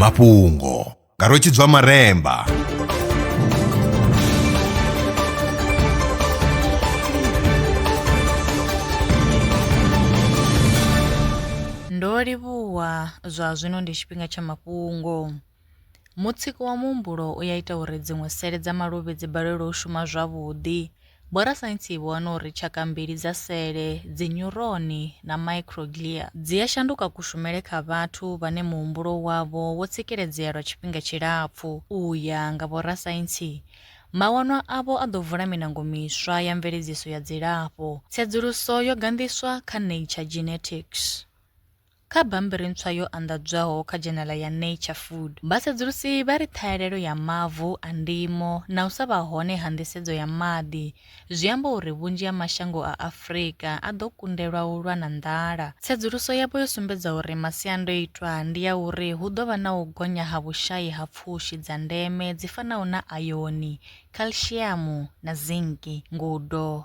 mafhungo nga rwetshidzwa maremba ndo livhuwa zwa zwino ndi tshifhinga tsha mafhungo Mutsiko wa muhumbulo u ya ita uri dziṅwe sele dza maluvhi dzi balelwe u shuma zwavhuḓi. Vhorasaintsi vho wana uri tshaka mbili dza sele, dzinyuroni na microglia, dzi a shanduka kushumele kha vhathu vhane muhumbulo wavho wo tsikeledzea lwa tshifhinga tshilapfu. U ya nga vhorasaintsi, mawanwa avho a ḓo vula miṋango miswa ya mveledziso ya dzilafho. Tsedzuluso yo ganḓiswa kha Nature Genetics. Kha bammbiri ntswa yo anḓadzwaho kha dzhenala ya Nature Food, vhasedzulusi vha ri ṱhahelelo ya mavu a ndimo na u sa vha hone ha nḓisedzo ya maḓi zwi amba uri vhunzhi ha mashango a Afrika a ḓo kundelwa u lwa na nḓala. Tsedzuluso yavho yo sumbedza uri masiandoitwa ndi a uri hu ḓo vha na u gonya ha vhushai ha pfushi dza ndeme dzi fanaho na ayoni, khalshiamu na zinki, ngudo,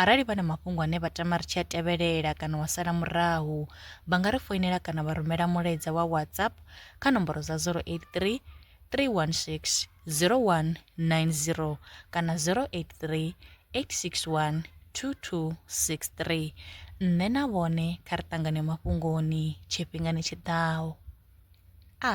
Arali vha na mafhungo ane vha tama ri tshi a tevhelela kana wa sala murahu, vha nga ri foinela kana vha rumela mulaedza wa WhatsApp kha nomboro dza 083 316 0190 kana 083 861 2263. Nṋe na vhone kha ri ṱangane mafhungoni tshifhingani tshi ḓaho. A.